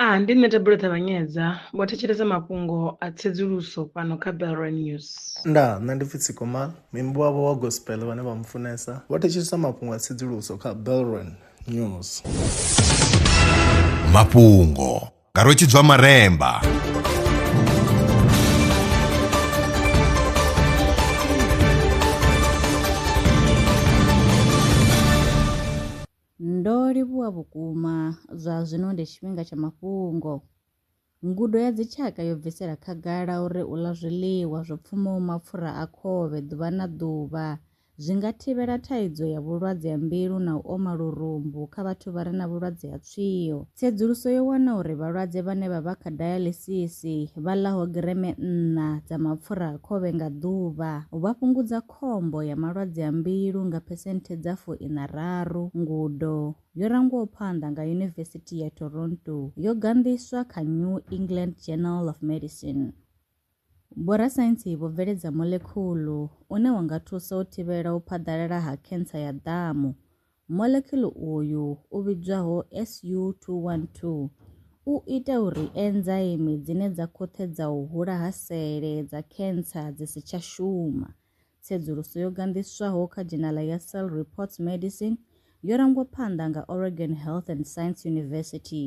A Ndi nṋe Thabelo Ṱavhanyedza, vho thetshelesa mafhungo a tsedzuluso fhano kha Belrand News. Ndaa, nṋe ndi pfi Tsiko Mal, muimbi wavho wa gospel vhane vha mufunesa, vho thetshelesa mafhungo a tsedzuluso kha Belrand News. Mafhungo nga Rwetshidzwa Maremba. Ndo livhuwa vhukuma! Zwa zwino ndi tshifhinga tsha mafhungo. Ngudo ya dzitshaka yo bvisela khagala uri u ḽa zwiḽiwa zwo pfumaho mapfura a khovhe ḓuvha na ḓuvha zwi nga thivhela thaidzo ya vhulwadze ha mbilu na u oma lurumbu kha vhathu vha re na vhulwadze ha tswio. Tsedzuluso yo wana uri vhalwadze vhane vha vha kha dialysis vha ḽaho gireme nṋa dza mapfura a khovhe nga ḓuvha vha fhungudza khombo ya malwadze a mbilu nga phesenthe dza fu ina raru. Ngudo yo rangwaho phanḓa nga Yunivesithi ya Toronto yo ganḓiswa kha New England Journal of Medicine. Vhorasaintsi vho bveledza molekhulu une wa nga thusa u thivhela u phaḓalala ha khentsa ya ḓamu Molecular uyu u vhidzwaho SU212 u ita uri enzaimi dzine dza khoṱhedza u hula ha sele dza khentsa dzi si tsha shuma. Tsedzuluso yo ganḓiswaho kha dzhenala ya Cell Reports Medicine yo rangwa phanḓa nga Oregon Health and Science University.